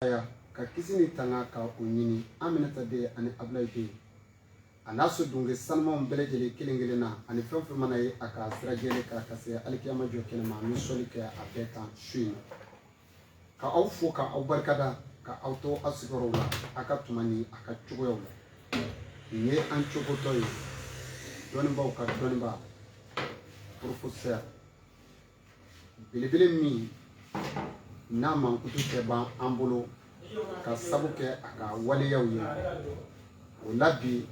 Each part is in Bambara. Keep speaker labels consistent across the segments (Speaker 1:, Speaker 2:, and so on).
Speaker 1: Aya ka kisi ni tanga ka o ɲini Aminata den ani Abulayi den a n'a so dunke sanumaw bɛɛ lajɛlen kelen kelen na ani fɛn fɛn mana ye a ka sira jɛlen kan ka se alikiyama jɔ kɛnɛ ma ni sɔli kɛ a bɛɛ kan su in na ka aw fo ka aw barikada ka aw to aw sigiyɔrɔw la a ka tuma ni a ka cogoyaw la nin ye an cogotɔ ye dɔnnibaaw ka dɔnnibaa professeur belebele min n'a mankutu tɛ ban an bolo ka sabu kɛ a ka waleyaw ye o la bi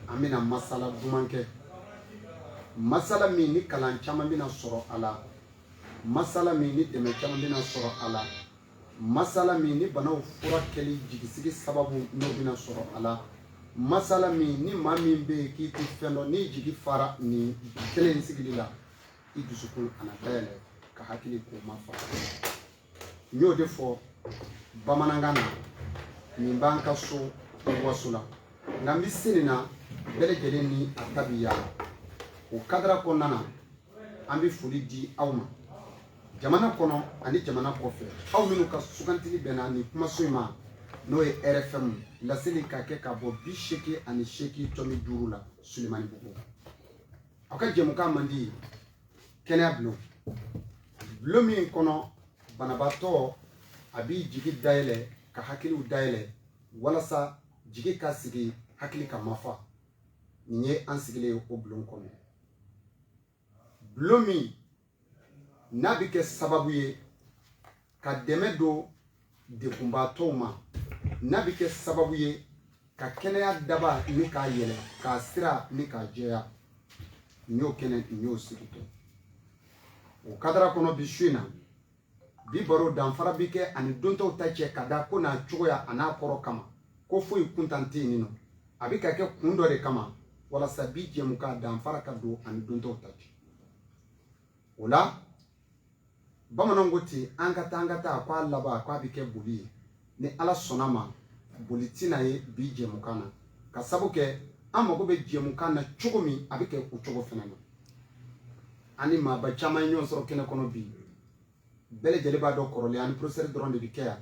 Speaker 1: an bɛna masala duman kɛ masala min ni kalan caman bɛna sɔrɔ a la masala min ni dɛmɛ caman bɛna sɔrɔ a la masala min ni banaw furakɛli jigisigi sababu n'o bɛna sɔrɔ a la masala min ni maa min bɛ yen k'i tɛ fɛn dɔn n'i jigi fara nin kelen sigili la i dusukolo a na dayɛlɛ ka hakili k'o mafa n y'o de fɔ bamanankan na nin b'an ka so waso la nka n bɛ se nin na bɛɛ lajɛlen ni a ta bi yaala o kadara kɔnɔna na an bɛ foli di aw ma jamana kɔnɔ ani jamana kɔfɛ aw minnu ka sugantili bɛnna nin kumaso in ma n'o ye rfm laseli ka kɛ ka bɔ bi seegin ani seegin tɔmi duuru la sulemanibugu aw ka jɛmukan mandi kɛnɛya bulon bulon min kɔnɔ banabaatɔ a b'i jigi dayɛlɛ ka hakiliw dayɛlɛ walasa jigi ka sigi hakili ka mafa nin ye an sigilen ye o bulon kɔnɔ bulon min n'a bɛ kɛ sababu ye ka dɛmɛ don degunbaatɔw ma n'a bɛ kɛ sababu ye ka kɛnɛya daba ni k'a yɛlɛ k'a sira ni k'a jɛya n y'o kɛnɛ n y'o sigi kɛ o kadara kɔnɔ bi su in na bi baro danfara bi kɛ ani don tɔw ta cɛ ka da ko n'a cogoya a n'a kɔrɔ kama ko foyi kuntan tɛ yen nɔ a bɛ ka kɛ kun dɔ de kama walasa bi jɛmukan danfara ka don ani don tɔw ta cɛ o la bamananw ko ten an ka taa an ka taa ko a laban ko a bɛ kɛ boli ye ni ala sɔnna ma boli tɛna ye bi jɛmukan na ka sabu kɛ an mago bɛ jɛmukan na cogo min a bɛ kɛ o cogo fana na ani maaba caman ye ɲɔgɔn sɔrɔ kɛnɛ kɔnɔ bi bɛɛ lajɛlen b'a dɔn kɔrɔlen ani professeur dɔrɔn de bɛ kɛ yan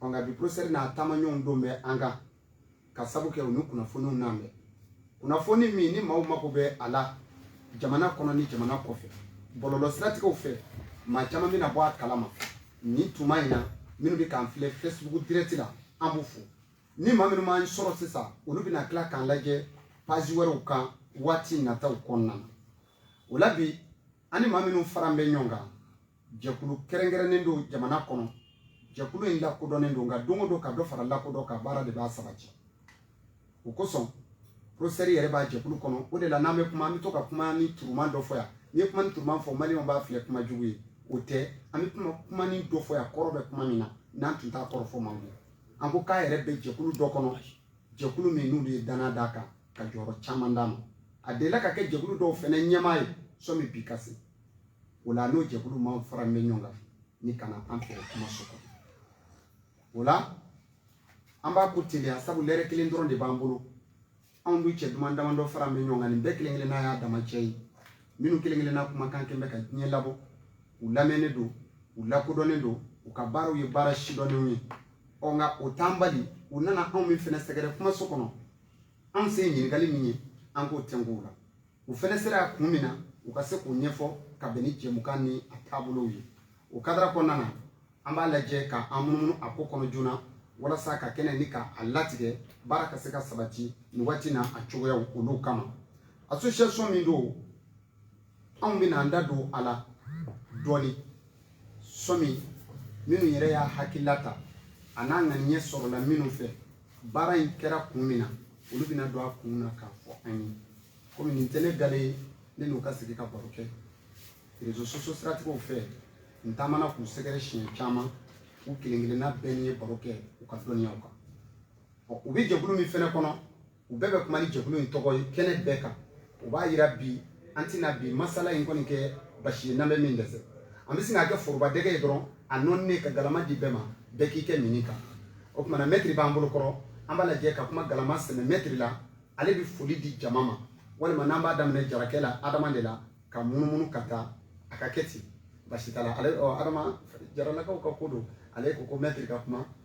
Speaker 1: nka bi professeur n'a taamaɲɔgɔn don bɛ an kan ka sabu kɛ u ni kunnafoniw nalen bɛ kunnafoni min ni maaw mako bɛ a la jamana kɔnɔ ni jamana kɔfɛ bɔlɔlɔ siratigɛw fɛ maa caman bɛna bɔ a kalama nin tuma in na minnu bɛ k'an filɛ facebook direct la an b'u fo ni maa minnu m'an sɔrɔ sisan olu bɛna tila k'an lajɛ page wɛrɛw kan waati nataw kɔnɔna na o la bi ani maa minnu faran bɛ ɲɔgɔn kan jɛkulu kɛrɛnkɛrɛnnen don jamana kɔnɔ jɛkulu in lakodɔnnen don nka don o don ka dɔ fara lakodɔn kan baara de b'a sabati o kosɔn professeur yɛrɛ b'a jɛkulu kɔnɔ o de la n'an bɛ kuma an bɛ to ka kuma ni turuman dɔ fɔ yan n'i ye kuma ni turuman fɔ maliyɛnw b'a filɛ kuma jugu ye o tɛ an bɛ kuma kuma ni dɔ fɔ yan kɔrɔ bɛ kuma min na n'an tun t'a kɔrɔ fɔ man bon an ko k'a yɛrɛ bɛ jɛkulu dɔ kɔnɔ jɛkulu min n'olu ye dannaya d'a kan ka jɔyɔrɔ caman d'a ma a delila ka kɛ jɛkulu dɔw fɛnɛ ɲɛmaa ye sɔmi bi ka se o la n'o jɛkulu maa fara bɛ ɲɔgɔn kan nin ka na an fɛ kumaso kɔnɔ o la an b'a ko teliya sabu lɛrɛ kelen dɔrɔn de b'an bolo anw dun cɛ duman damadɔ fara bɛ ɲɔgɔn kan nin bɛɛ kelen kelenna y'a dama cɛ ye minnu kelen kelenna kumakan kɛn bɛ ka diɲɛ labɔ u lamɛnnen don u lakodɔnnen don u ka baaraw ye baara sidɔnnenw ye ɔ nka o t'an bali u nana anw min fɛnɛ sɛgɛrɛ kumaso kɔnɔ anw se ye ɲininkali min ye an k'o tɛnku o la u fɛnɛ sera a kun min na u ka se k'o ɲɛfɔ ka bɛn ni jɛmukan ni a taabolow ye o kadara kɔnɔna na an b'a lajɛ ka an munumunu a ko kɔnɔ joona walasa ka kɛnɛ ni ka a latigɛ baara ka se ka sabati nin waati na a cogoyaw olu kama association min don anw bɛna an da don a la dɔɔnin sɔmi minnu yɛrɛ y'a hakilila ta an'a ŋaniɲɛ sɔrɔla minnu fɛ baara in kɛra kun min na olu bɛna don a kun na k'a fɔ an ye komi nin tɛ ne gale ye ne n'u ka sigi ka baro kɛ réseaux sociaux siratigɛw fɛ n taamana k'u sɛgɛrɛ siɲɛ caman u kelen kelenna bɛɛ ne ye baro kɛ u ka dɔnniyaw kan u bɛ jɛkulu min fɛnɛ kɔnɔ u bɛɛ bɛ kuma ni jɛkulu in tɔgɔ ye kɛnɛ bɛɛ kan o b'a jira bi an tɛna bi masala in kɔni kɛ basi ye n'an bɛ min dɛsɛ an bɛ sin k'a kɛ forobadɛgɛ ye dɔrɔn a nɔninen ka galama di bɛɛ ma bɛɛ k'i kɛ minni kan o tuma na mɛtiri b'an bolo kɔrɔ an b'a lajɛ ka kuma galama sɛmɛ mɛtiri la ale bɛ foli di jama ma walima n'an b'a daminɛ jarakɛ la adama de la ka munumunu ka taa a ka kɛ ten basi t'a la ale adama jaralakaw ka ko don ale ko ko mɛtiri ka kuma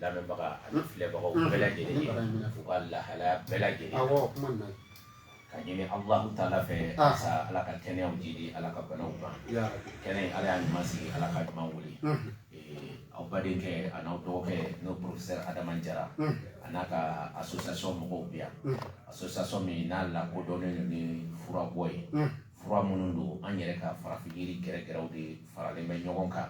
Speaker 2: lamɛnbaga ani filɛbagaw bɛɛ lajɛlen ye u ka lahalaya bɛɛ lajɛlen na awɔ kuma na k'a ɲini Alahu taala fɛ sa Ala ka kɛnɛyaw jiidi Ala ka banaw ban kɛnɛ in Ala y'a ɲuman sigi Ala k'a ɲuman wuli aw badenkɛ an'aw dɔgɔkɛ n'o professeur Adama Jara a n'a ka association mɔgɔw bɛ yan association min n'a lakodɔnnen don ni furabɔ ye fura minnu don an yɛrɛ ka farafin jiri gɛrɛgɛrɛw de faralen bɛ ɲɔgɔn kan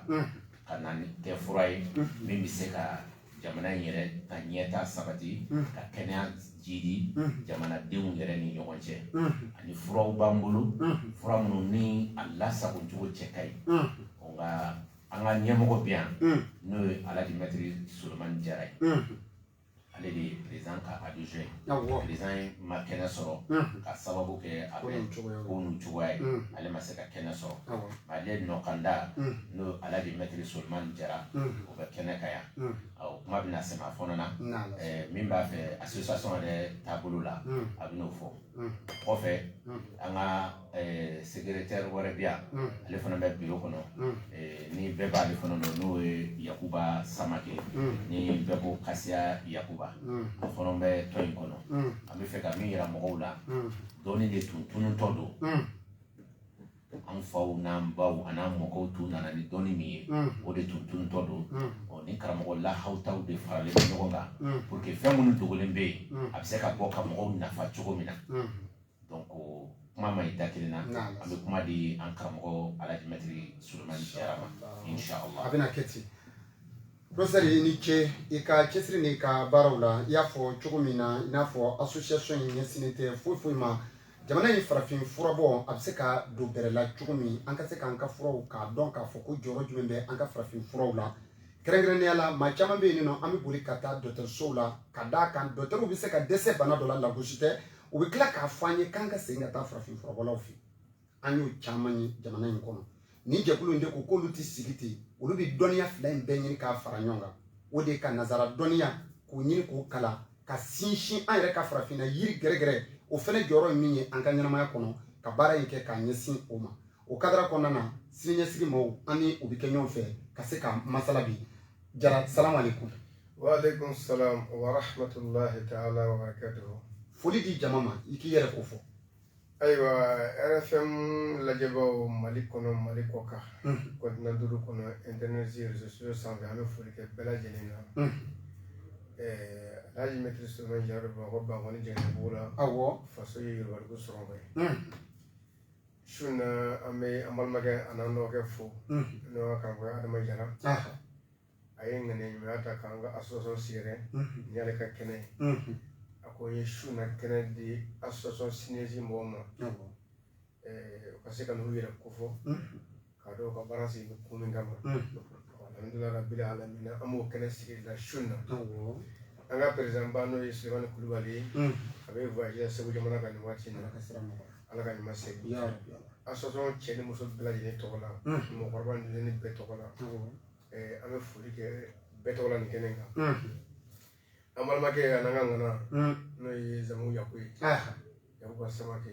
Speaker 2: ka na nin kɛ fura ye min bɛ se ka jamana in yɛrɛ ka ɲɛtaa sabati ka kɛnɛya jiidi jamanadenw yɛrɛ ni ɲɔgɔn cɛ ani furaw b'an bolo fura minnu ni a lasagocogo cɛ ka ɲi nka an ka ɲɛmɔgɔ bɛ yan n'o ye alaji mɛtiri solomani jara ye ale de ye président ka adjoint awɔ président yɛrɛ ma kɛnɛ sɔrɔ unhun ka sababu kɛ a bɛ ko ninnu cogoya ye unhun ale ma se ka kɛnɛ sɔrɔ awɔ ale nɔkanda unhun n'o alaji mɛtiri solomani jara unhun o bɛ kɛnɛ kan yan unhun ɔ, o kuma bɛna se a ma fɔlɔ na nala Eh, min b'a fɛ association yɛrɛ taabolo la unhun a bɛn'o fɔ unhun kɔfɛ unhun an ka secrétaire wɛrɛ bɛ yan ale fana bɛ bureau kɔnɔ ni bɛɛ b'ale fana dɔn n'o ye yakuba samake ni bɛɛ ko kasiya yakuba o fana bɛ tɔn in kɔnɔ an bɛ fɛ ka min yira mɔgɔw la dɔnni de tun tununtɔ don an faw n'an baw an'an mɔkɛw tun nana ni dɔnni min ye o de tun tununtɔ don ni karamɔgɔ lahawutaw de faralen ɲɔgɔn kan pour que fɛn minnu dogolen bɛ yen a bɛ se ka bɔ ka mɔgɔw nafa cogo min na donc kuma man ɲi da kelen na an bɛ kuma di an karamɔgɔ Alaji Mɛtiri Solomani Jara ma inshallah a bɛna
Speaker 1: kɛ ten professeur i ni ce i ka cɛsiri n'i ka baaraw la i y'a fɔ cogo min na i n'a fɔ association in ɲɛsinnen tɛ foyi foyi ma jamana in farafin furabɔ a bɛ se ka don bɛrɛ la cogo min an ka se k'an ka furaw k'a dɔn k'a fɔ ko jɔyɔrɔ jumɛn bɛ an ka farafin furaw la kɛrɛnkɛrɛnnenya la maa caman bɛ yen nɔ an bɛ boli ka taa dɔgɔtɔrɔsow la ka d'a kan dɔgɔtɔrɔw bɛ se ka dɛsɛ bana dɔ la lagosi tɛ u bɛ tila k'a fɔ an ye k'an ka segin ka taa farafin furabɔlaw fɛ an y'o caman ye jamana in kɔnɔ nin jɛkulu in de ko k'olu tɛ sigi ten olu bɛ dɔnniya fila in bɛɛ ɲini k'a fara ɲɔgɔn kan o de ye ka nazara dɔnniya k'o ɲini k'o kalan ka sinsin an yɛrɛ ka farafinna yiri gɛrɛgɛrɛ o fana jɔyɔrɔ ye min ye an ka ɲɛnamaya kɔnɔ ka baara in kɛ k'a ɲɛsin o ma o kadara kɔnɔna na siniɲɛsigi maaw an ni u bɛ kɛ ɲɔgɔn fɛ ka se ka masala bi jara salamu aleykum
Speaker 3: waaleykum salam wa rahmatulahi taala wa barakatuhu foli di jama
Speaker 1: ma i k'i yɛrɛ kofɔ ayiwa
Speaker 3: rfm lajɛbaaw mali kɔnɔ mali kɔkan continent mhm. duuru kɔnɔ intɛnɛti réseaux sociaux sanfɛ an bɛ foli kɛ bɛɛ lajɛlen na mhm. alhaji mɛtiri solomani jara bamakɔ bankɔni janginɛbugu la awɔ faso ye
Speaker 1: yorobaliku
Speaker 3: sɔrɔ ye mhm. su na an bɛ an balimakɛ an'an dɔgɔkɛ fo n'o y'a kan fɔ adama jara a ye ŋaniya ɲumanya ta k'an ka association sɛgɛrɛ nin y'ale ka kɛnɛ ye a ko n ye su na kɛnɛ di association siniɲɛsigi mɔgɔw ma u ka se ka n'u yɛrɛ kofɔ K'a dɔn u ka baara sigilen bɛ kun min kama alhamdulilayi rabil alamin an b'o kɛnɛ sigi la su na an ka président ba n'o ye sulemani kulubali ye a bɛ segu jamana kan nin waati na ala ka ɲuman segin association cɛ ni muso bɛɛ lajɛlen tɔgɔ la mɔgɔkɔrɔba ni denmisɛnnin bɛɛ tɔgɔ la an bɛ foli kɛ bɛɛ tɔgɔ la nin kɛnɛ kan an balimakɛ an'an ka ŋana n'o ye zanmu yaku ye yakuba samake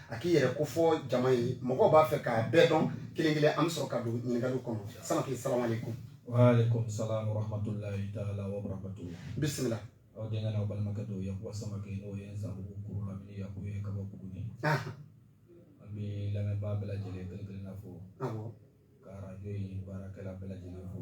Speaker 1: a k'i yɛrɛ kofɔ jama ye mɔgɔw b'a fɛ k'a bɛɛ dɔn kelen kelen an bɛ sɔrɔ ka don ɲininkali kɔnɔ samake
Speaker 4: salamu alayikum wa alayikum salamu wa rahamatulahi taala wa barakatuhu bisimila aw
Speaker 1: denkɛ n'aw
Speaker 4: balimakɛ don yakuba samake n'o ye zanbugu kurulamini yaku ye ka bɔ buguni an bɛ lamɛnbaa bɛɛ lajɛlen kelen kelen na fo ka arajo in baarakɛla bɛɛ lajɛlen fo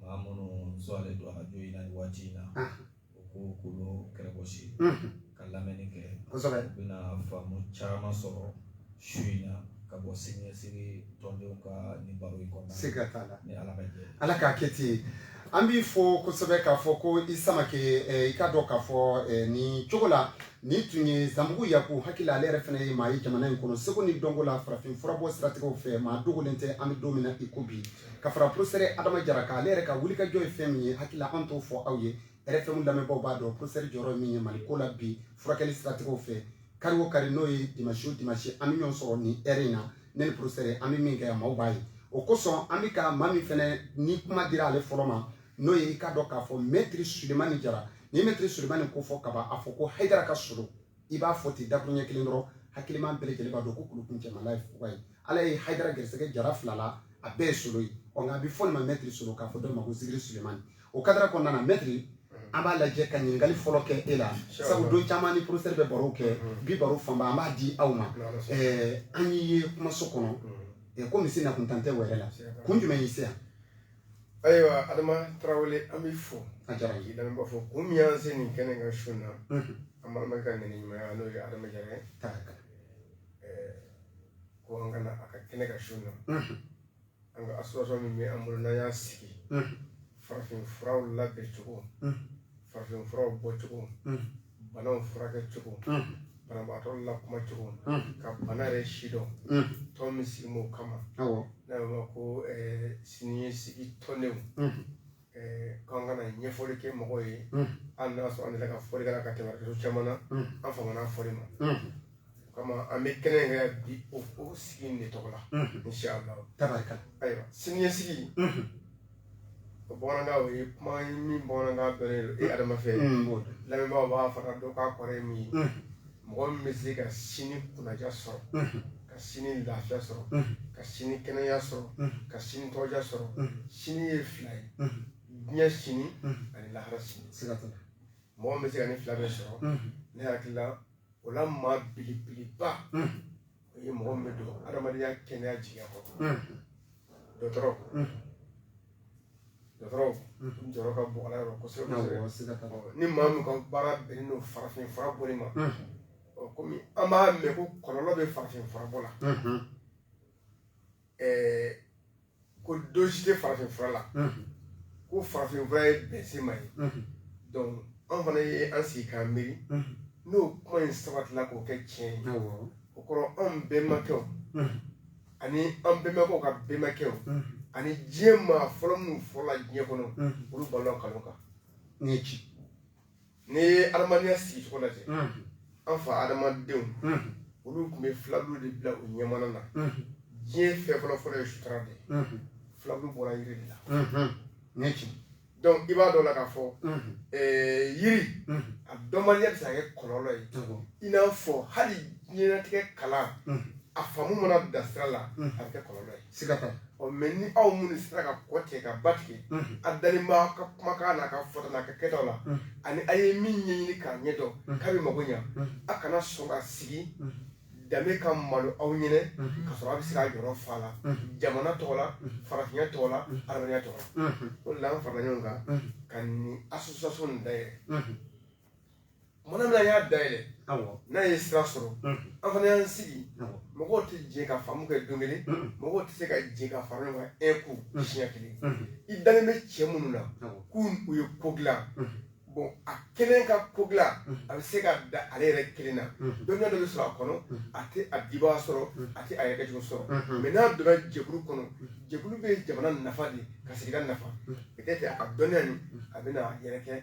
Speaker 4: maa minnu sɔrɔlen don arajo in na nin waati in na u k'u kulo kɛrɛ gosi ka lamɛnni kɛ kosɛbɛ u
Speaker 1: bɛna faamu
Speaker 4: caman sɔrɔ su in na ka bɔ siniɲɛsigi tɔndenw ka nin baro in kɔnɔna siga t'a la ni ala ka
Speaker 1: jɛn
Speaker 4: ala k'a kɛ
Speaker 1: ten an b'i fɔ kosɛbɛ k'a fɔ ko i samake i k'a dɔn k'a fɔ nin cogo la nin tun ye zanbugu yaku hakili la ale yɛrɛ fana ye maa ye jamana in kɔnɔ seko ni dɔnko la farafin furabɔ siratigɛw fɛ maa dogolen tɛ an bɛ don min na i ko bi ka fara porosɛri adama jara kan ale yɛrɛ ka wulikajɔ ye fɛn min ye hakili la an t'o fɔ aw ye rfm lamɛnbaaw b'a dɔn porosɛri jɔyɔrɔ min ye mali ko la bi furakɛli siratigɛw fɛ kari o kari n'o ye dimasi o dimasi an bɛ ɲɔgɔn sɔrɔ nin ɛri in na ne ni porosɛri an bɛ min kɛ maaw b'a ye o kosɔn an bɛ ka maa min fɛnɛ ni kuma dira ale fɔlɔ ma n'o ye i k'a dɔn k'a fɔ mɛtiri sulemani jara ni mɛtiri sulemani kofɔ k'a ban a fɔ ko hayidara ka solo i b'a fɔ ten dakuruɲɛ kelen dɔrɔn hakiliman bɛɛ lajɛlen b'a dɔn ko kulu kuncɛmala ye fuga ye ala ye haidara gɛrɛsɛgɛ jara fila la a bɛɛ ye solo ye ɔ nka a bɛ fɔ nin ma mɛtiri solo k'a fɔ dɔ ma ko zikiri sulemani o kadara kɔnɔna na mɛtiri an b'a lajɛ ka ɲininkali fɔlɔ kɛ e la sabu don caman ni porosɛri bɛ barow kɛ mm-hmm. bi baro fanba an b'a di aw ma an y'i ye kumaso kɔnɔ mm-hmm. ko misi nakuntan tɛ wɛrɛ la kun jumɛn y'i se yan
Speaker 3: ayiwa adama tarawele an b'i fo a diyara ye lamɛnbaa
Speaker 1: fo kun
Speaker 3: min y'an se nin kɛnɛ kan su in na an balimakɛ ka ŋaniya ɲumanya n'o ye adama jara ye taraka ko an ka na a ka kɛnɛ kan su in na an ka association min bɛ an bolo n'an y'a sigi farafin furaw labɛn cogo farafin furaw bɔ cogo banaw furakɛ cogo banabaatɔ lakuma cogo ka bana yɛrɛ sidɔn tɔn min sigi m'o kama n'a bɛ ma
Speaker 1: ko
Speaker 3: siniɲɛsigi tɔndenw k'an ka na ɲɛfɔli kɛ mɔgɔw ye an n'a sɔrɔ an ka fɔlikɛla ka tɛmɛ caman na an fanga fɔli ma o kama an bɛ kɛnɛ kan bi o o sigi in de tɔgɔ la inshallah tabarika
Speaker 1: ayiwa
Speaker 3: siniɲɛsigi o bamanankan o ye kuma ye min bamanankan dɔnnen don e adama fɛ lamɛnbaaw b'a fana dɔn k'a kɔrɔ ye min ye mɔgɔ min bɛ se ka sini kunnaja sɔrɔ ka sini lafiya sɔrɔ ka sini kɛnɛya sɔrɔ ka sini tɔgɔja sɔrɔ sini ye fila ye diɲɛ sini ani lahara sini mɔgɔ min bɛ se ka nin fila bɛɛ sɔrɔ ne hakili la o la maa belebeleba o ye mɔgɔ min bɛ don adamadenya kɛnɛya jigiya kɔrɔ dɔgɔtɔrɔ dɔgɔtɔrɔ n jɔyɔrɔ ka bon ala yɔrɔ kosɛbɛ kosɛbɛ ni maa min ka baara bɛnnen don farafin fura bɔli ma kɔmi an b'a mɛn ko kɔlɔlɔ bɛ farafin fura bɔ la ko dose tɛ farafin fura la ko farafin fura ye bɛnsenma ye donc an fana ye an sigi k'an miiri n'o kuma in sabatila k'o kɛ tiɲɛ ye o kɔrɔ anw bɛnbakɛw ani an bɛnbakɛw ka bɛnbakɛw ani diɲɛ maa fɔlɔ minnu fɔlɔla diɲɛ kɔnɔ olu balola nkalon kan nin ye ci N'i ye adamadenya sigi cogo lajɛ, unhun, an fa adamadenw, unhun, olu tun bɛ filaburu de bila u ɲɛmana na, unhun, diɲɛ fɛn fɔlɔ fɔlɔ ye sutura de ye, unhun, filaburu bɔra yiri de la, unhun, nin ye tiɲɛ ye. Donc i b'a dɔn o la k'a fɔ, unhun, ɛɛ yiri, unhun, a dɔnbaliya bɛ se ka kɛ kɔlɔlɔ ye, awɔ, i n'a fɔ hali diɲɛlatigɛ kalan, unhun, a faamu mana dan sira la, unhun, a bɛ kɛ kɔlɔlɔ ye. siga t'a la ɔ mais ni aw minnu sera ka kɔ tigɛ ka ba tigɛ a dalen b'a ka kumakan n'a ka fɔta n'a ka kɛtaw la ani a ye min ɲɛɲini k'a ɲɛ dɔn k'a bɛ mago ɲa a kana sɔn ka sigi danbe ka malo aw ɲɛna ka sɔrɔ a bɛ se k'a jɔyɔrɔ fa la jamana tɔgɔ la farafinya tɔgɔ la adamadenya tɔgɔ la o de la an farala ɲɔgɔn kan ka nin association nin dayɛlɛ Tuma min an y'a dayɛlɛ n'a ye sira sɔrɔ an fana y'an sigi mɔgɔw tɛ jɛ ka faamu kɛ don kelen mɔgɔw tɛ se ka jɛ ka fara ɲɔgɔn kan un coup siɲɛ kelen i dalen bɛ cɛ minnu na k'u ye ko dilan bon a kelen ka ko dilan a bɛ se ka da ale yɛrɛ kelen na dɔnniya dɔ bɛ sɔrɔ a kɔnɔ a tɛ a dibaga sɔrɔ a tɛ a yɛrɛ sɔrɔ mais n'a donna jɛkulu kɔnɔ jɛkulu bɛ jamana nafa de ka sigida nafa peut-être a ka dɔnniya bɛ yɛrɛ kɛ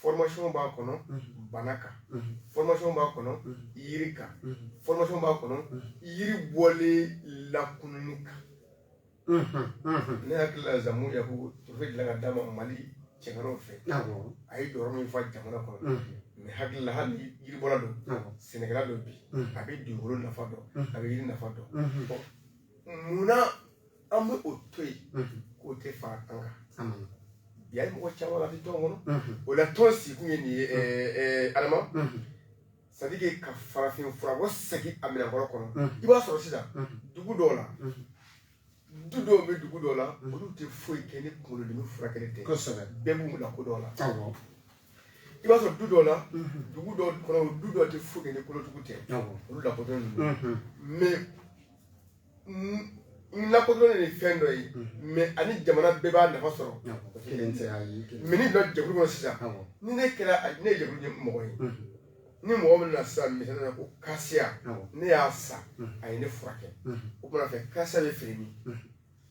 Speaker 3: formation b'a kɔnɔ bana kan formation b'a kɔnɔ yiri kan formation b'a kɔnɔ yiri bɔlen lakununni kan ne hakili la zamu yaku trophée dilan ka d'a ma mali cɛŋanaw fɛ a ye jɔyɔrɔ min fa jamana kɔnɔ ne hakili la hali yiribɔla don sɛnɛkɛla don bi a bɛ dugukolo nafa dɔn a bɛ yiri nafa dɔn munna an bɛ o to yen k'o tɛ fara an kan bi a ye mɔgɔ caman la tɔn kɔnɔ o la tɔn sigikun ye nin ye adama c'est-à-dire ka farafin fura kɔsegin a minɛn kɔrɔ kɔnɔ i b'a sɔrɔ sisan dugu dɔw la du dɔw bɛ dugu dɔw la olu tɛ foyi kɛ ni kunkolodimi furakɛli tɛ kosɛbɛ bɛɛ b'u lakodɔn o la i b'a sɔrɔ du dɔw la dugu dɔw kɔnɔ du dɔw tɛ foyi kɛ ni kolotugu tɛ olu lakodɔnnen don mais lakodɔnnen ye fɛn dɔ ye mɛ ani jamana bɛɛ b'a nafa sɔrɔ mɛ ni dɔ jɛkulu kɔnɔ sisan ni ne kɛra ne ye jɛkulu mɔgɔ ye ni mɔgɔ min na sisan misali la ko kasiya ne y'a san a ye ne furakɛ o tuma fɛ kasiya bɛ feere min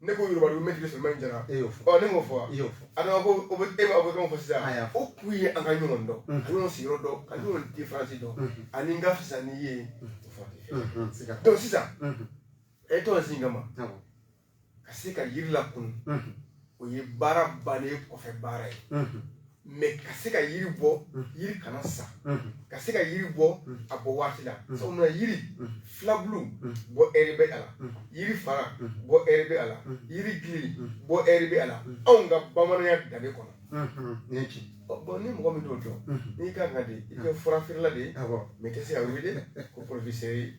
Speaker 3: ne ko yoruba dugu mɛtiri sulemani jara e y'o fɔ ne m'o fɔ wa adama ko o bɛ e ma o bɛ fɛn fɔ sisan o kun ye an ka ɲɔgɔn dɔn ka ɲɔgɔn sigiyɔrɔ dɔn ka ɲɔgɔn diferansi dɔn ani n ka fisa n'i ye donc sisan a ye tɔn sigi min kama ka se ka yiri lakunun o ye baara bannen kɔfɛ baara ye mɛ ka se ka yiri bɔ yiri kana sa ka se ka yiri bɔ a bɔ waati la sabu mun na yiri filabulu bɔ ɛri bɛ a la yiri fara bɔ ɛri bɛ a la yiri gili bɔ ɛri bɛ a la anw ka bamananya danbe kɔnɔ nin ye tiɲɛ bon ni mɔgɔ min t'o dɔn n'i ka kan ka di i kɛ fura feerela de ye mɛ i tɛ se ka wele ko porofiseri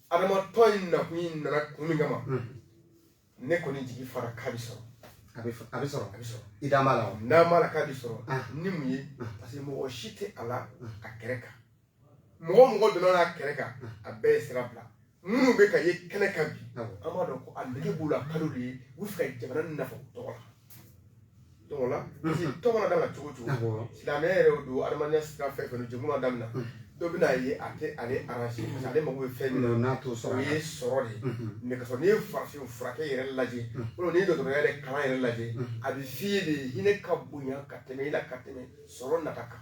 Speaker 3: adama tɔn in nakun in nana kun min kama ne kɔni jigi fara k'a bɛ sɔrɔ a bɛ a bɛ sɔrɔ a bɛ sɔrɔ i da b'a la wa n da b'a la k'a bɛ sɔrɔ ni mun ye parce que mɔgɔ si tɛ a la a kɛrɛ kan mɔgɔ mɔgɔ donna n'a kɛrɛ kan a bɛɛ ye sira bila minnu bɛ ka ye kɛnɛ kan bi an b'a dɔn ko a nege b'u la kalo de ye u b'a fɛ ka jamana nafa tɔgɔ la tɔgɔ la tɔn mana daminɛ cogo o cogo silamɛya yɛrɛ don adamadenya sira fɛn fɛn jɛkulu mana daminɛ dɔ bɛna ye a tɛ ale aranze parce que ale mago bɛ fɛn min na n'a t'o sɔrɔ o ye sɔrɔ de ye mɛ ka sɔrɔ n'i ye farafin furakɛ yɛrɛ lajɛ o n'i ye dɔgɔtɔrɔya yɛrɛ kalan yɛrɛ lajɛ a bɛ f'i ye de hinɛ ka bonya ka tɛmɛ i la ka tɛmɛ sɔrɔ nata kan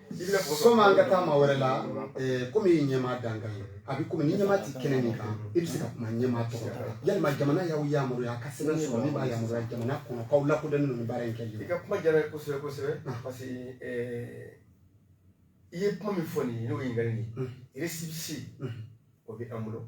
Speaker 3: Sɔmi an ka taa maa wɛrɛ
Speaker 1: la kɔmi i ye ɲɛmaa dankan ye a bɛ kɔmi ni ɲɛmaa tɛ kɛnɛ min kan i bɛ se ka kuma ɲɛmaa tɔgɔ yalima jamana y'aw yamaruya a ka sɛbɛn sɔrɔ min b'a yamaruya jamana kɔnɔ k'aw lakodɔnnen don ni baara in ye i ka kuma diyara n ye
Speaker 3: kosɛbɛ kosɛbɛ parce que i ye kuma min fɔ nin ye n'o ye ɲininkali nin ye récépissé o bɛ an bolo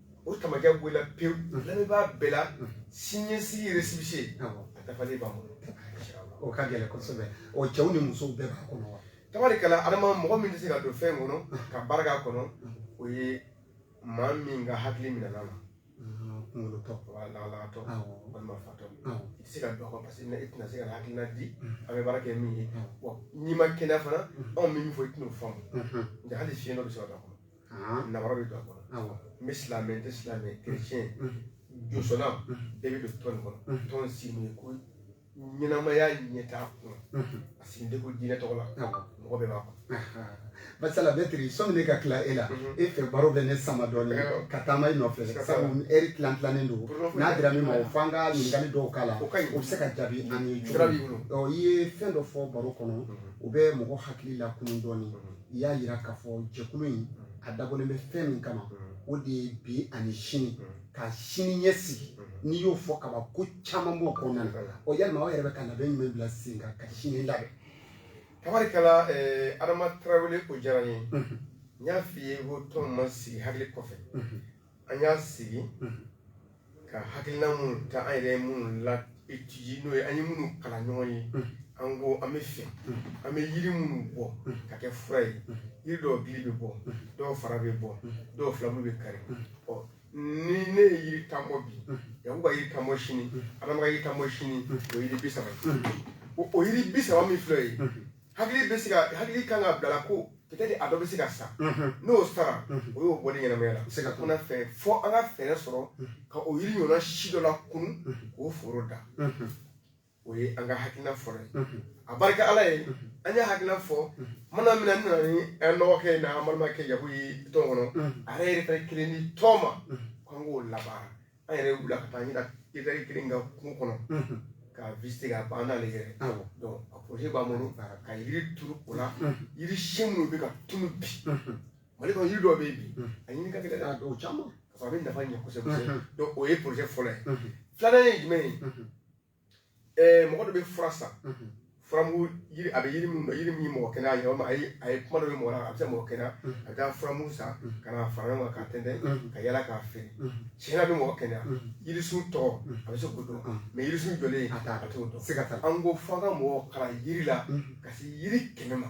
Speaker 3: o tamakɛ bɔla pewu lamɛnbaa bɛɛ la siniɲɛsigi récépissé a dafalen b'an bolo o ka
Speaker 1: gɛlɛn kosɛbɛ o cɛw ni musow bɛɛ b'a kɔnɔ wa tabarikala adama
Speaker 3: mɔgɔ min tɛ se ka don fɛn kɔnɔ ka baara k'a kɔnɔ o ye maa min ka hakili minɛn'a la kunkolotɔ lalatɔ walima fatɔ i tɛ se ka don a kɔnɔ paseke i tɛna se ka hakilina di an bɛ baara kɛ min ye n'i ma kɛnɛya fana anw bɛ min fɔ i tɛn'o faamu nka hali fiyentɔ bɛ se ka don a kɔnɔ namara bɛ don a kɔnɔ n bɛ silamɛ n tɛ silamɛ kerecɛn josɔnna bɛɛ bɛ don tɔn kɔnɔ tɔn sigi kun ye ko ɲɛnamaya ɲɛtaa kun a sigilen tɛ ko diinɛ tɔgɔ la mɔgɔ bɛɛ b'a kɔnɔ masala
Speaker 1: mɛtiri sɔmi ne ka tila e la e fɛ baro bɛ ne sama dɔɔnin ka taama i nɔfɛ sabu ɛri tilan tilannen don n'a dira min ma o f'an ka ɲininkali dɔw k'a la o bɛ se ka jaabi an ye cogo i ye fɛn dɔ fɔ baro kɔnɔ o bɛ mɔgɔ hakili lakunun dɔɔnin i y'a jira k'a fɔ jɛkulu in a dabɔlen bɛ fɛn min kama o de ye bi ani sini ka sini ɲɛsigi n'i y'o fɔ ka ban ko caman b'o kɔnɔna na o yalima aw yɛrɛ bɛ ka labɛn jumɛn bila sen kan ka sini labɛn
Speaker 3: tabarikala eh, adama tarawele o diyara n ye n y'a f'i ye ko tɔn ma sigi hakili kɔfɛ an y'a sigi ka hakilina minnu ta an yɛrɛ minnu la étudier n'o ye an ye minnu kalan ɲɔgɔn ye an ko an bɛ fɛ an bɛ yiri minnu bɔ ka kɛ fura ye yiri dɔw gili bɛ bɔ dɔw fara bɛ bɔ dɔw filabulu bɛ kari ɔ ni ne ye yiri tan bɔ bi yaku ka yiri tan bɔ sini adama ka yiri tan bɔ sini o yiri bi saba o yiri bi saba min filɛ ye hakili kan ka bila ko peut-être a dɔ bɛ se ka sa n'o sara o y'o bɔlen ɲɛnamaya la se ka kuma fɛ fɔ an ka fɛɛrɛ sɔrɔ ka o yiri ɲɔgɔnna si dɔ lakunun k'o foro da o ye an ka hakilina fɔlɔ ye a barika ala ye an ye hakilina fɔ mana min na n nana ni an dɔgɔkɛ in na an balimakɛ yaku ye tɔn kɔnɔ a yɛrɛ ye hectare kelen ni tɔn ma k'an k'o labaara an yɛrɛ wulila ka taa nin hectare kelen kan kungo kɔnɔ k'a visiter ka ban n'ale yɛrɛ donc a projet b'an bolo ka yiri turu o la yiri si minnu bɛ ka tunu bi mali kɔnɔ yiri dɔ bɛ yen bi a ɲini ka gɛlɛn dɔw caman k'a sɔrɔ a bɛ nafa ɲɛ kosɛbɛ donc o ye projet fɔlɔ ye filanan ye jumɛn ye mɔgɔ dɔ bɛ fura san furamugu a bɛ yiri min yiri min mɔgɔ kɛnɛya ye walima a ye kuma dɔ mɛn mɔgɔ la a bɛ se mɔgɔ kɛnɛya a bɛ taa furamugu san ka fara ɲɔgɔn kan k'a tɛntɛn ka yala k'a feere tiɲɛ na a bɛ mɔgɔ kɛnɛya yirisun tɔgɔ a bɛ se k'o dɔn mais yirisun jɔlen a taa a t'o dɔn se ka taa an ko f'an ka mɔgɔ kalan yiri la ka se yiri kɛmɛ ma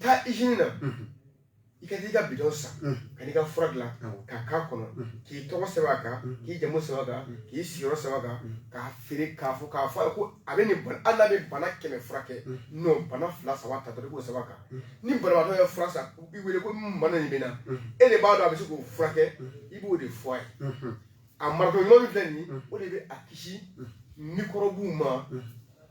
Speaker 3: taa usine na i ka t'i ka bidon san ka n'i ka fura dilan k'a k'a kɔnɔ k'i tɔgɔ sɛbɛn a kan k'i jamu sɛbɛn a kan k'i sigiyɔrɔ sɛbɛn a kan k'a feere k'a fɔ k'a fɔ ko a bɛ nin hali n'a bɛ bana kɛmɛ furakɛ non bana fila saba ta i k'o sɛbɛn a kan ni banabagatɔ ye fura san k'i wele ko bana nin bɛ n na e de b'a dɔn a bɛ se k'o furakɛ i b'o de fɔ a ye a marako ɲuman min filɛ nin o de bɛ a kisi mikɔrɔbuw ma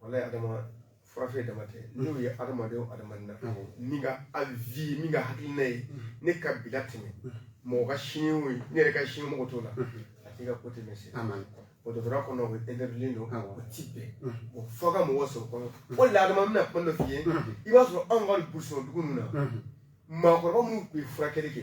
Speaker 3: walayi adama furafeere dama tɛ n'o ye adamadenw adamaden na min ka avis min ka hakilina ye ne ka bila tɛmɛ mɔgɔ ka sini o ye ne yɛrɛ ka sini mɔgɔ t'o la a t'i ka ko tɛmɛ se dɔgɔtɔrɔya kɔnɔ o bɛ interview don o ti bɛn o fɔ ka mɔgɔ sɔrɔ kɔnɔ o la adama bɛna kuma dɔ f'i ye i b'a sɔrɔ anw ka burusi kɔnɔ dugu ninnu na maakɔrɔba minnu tun ye furakɛli kɛ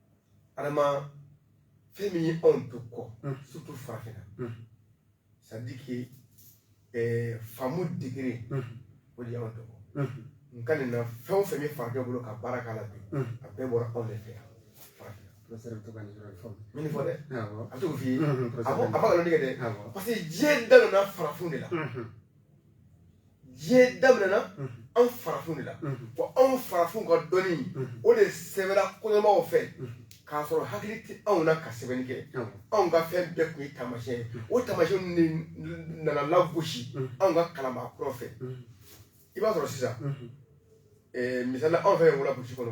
Speaker 3: adama fɛn min ye anw to kɔ surtout farafinna c'est à dire que eh, faamu degré o de y'anw to kɔ n ka nin na fɛn o fɛn bɛ farajɛ bolo ka baara k'a la bi a bɛɛ bɔra anw de fɛ yan professeur bɛ to ka nin
Speaker 1: yɔrɔ in fɔ min fɔ
Speaker 3: dɛ a t'o f'i ye a ko a ma nkalon tigɛ
Speaker 1: dɛ
Speaker 3: parce que diɲɛ dadonna farafin de la diɲɛ daminɛna anw farafinw de la wa anw farafinw ka dɔnni o de sɛbɛnna kɔɲɔmaw fɛ k'a sɔrɔ hakili tɛ anw na ka sɛbɛnni kɛ anw ka fɛn bɛɛ tun ye taamasiyɛn ye o taamasiyɛn de nana lagosi anw ka kalanbaa kuraw fɛ i b'a sɔrɔ sisan misali anw fɛ yen wula burusi kɔnɔ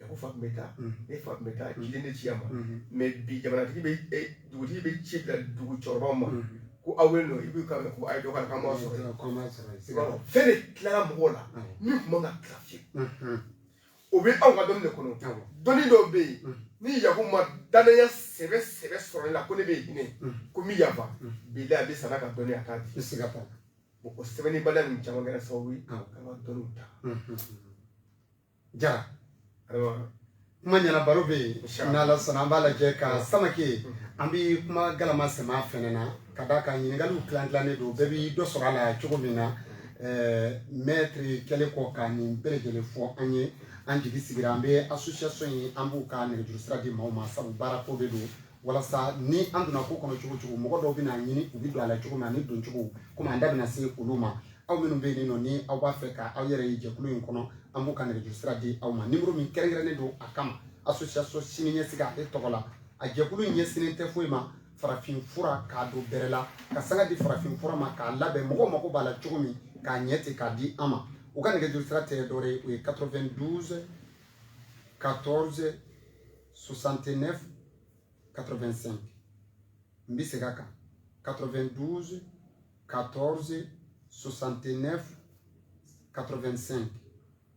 Speaker 3: a ko fa tun bɛ taa ne fa tun bɛ taa ciden de ci a ma mɛ bi jamanatigi bɛ dugutigi bɛ ci bila dugu cɛkɔrɔbaw ma ko aw bɛ nɔ i bɛ ka ko a ye dɔ ka kan b'a sɔrɔ fɛn de tilara mɔgɔw la min tun man ka tila fiyewu o bɛ anw ka dɔnni de kɔnɔ dɔnni dɔw bɛ yen ni yaku ma danaya sɛbɛ sɛbɛ sɔrɔ ne la ko ne bɛ hinɛ ko min yafa bi a bɛ sara ka dɔnni a t'a di bɛ se ka fɔ o sɛbɛnnibaliya nin caman kɛra sababu ye ka dɔnniw ta
Speaker 1: Jara kuma ɲɛna baro bɛ yen n'ala sɔnna an b'a lajɛ ka mm. Samake mm. an bɛ kuma galama sɛmɛ fɛnɛ na ka d'a kan ɲininkaliw tilan tilannen don bɛɛ bɛ dɔ sɔrɔ a la cogo min na mm. mɛtiri kɛlen kɔ ka nin bɛɛ lajɛlen fɔ an ye an jigi sigira an bɛ association ye an b'u ka nɛgɛjuru sira di maaw ma sabu baara ko de don walasa ni an donna ko kɔnɔ cogo cogo mɔgɔ dɔw bɛn'a ɲini u bɛ don a la cogo min ani doncogo komi an da bɛna se olu ma aw minnu bɛ yen nɔ ni aw b'a fɛ ka aw yɛrɛ ye jɛkulu in kɔnɔ an b'u ka nɛgɛjuru sira di aw ma nimɔrɔ min kɛrɛnkɛrɛnnen don a kama association siniɲɛsigi ale tɔgɔ la a jɛkulu in ɲɛsinnen tɛ foyi ma farafin fura k'a don bɛrɛ la ka sanga di farafin fura ma k'a labɛn mɔgɔw mako b'a la cogo min k'a ɲɛ ten k'a di an ma u ka nɛgɛjuru sira tɛ dɔwɛrɛ ye o ye 92 14 69 85 n bɛ segin a kan 92 14 69 85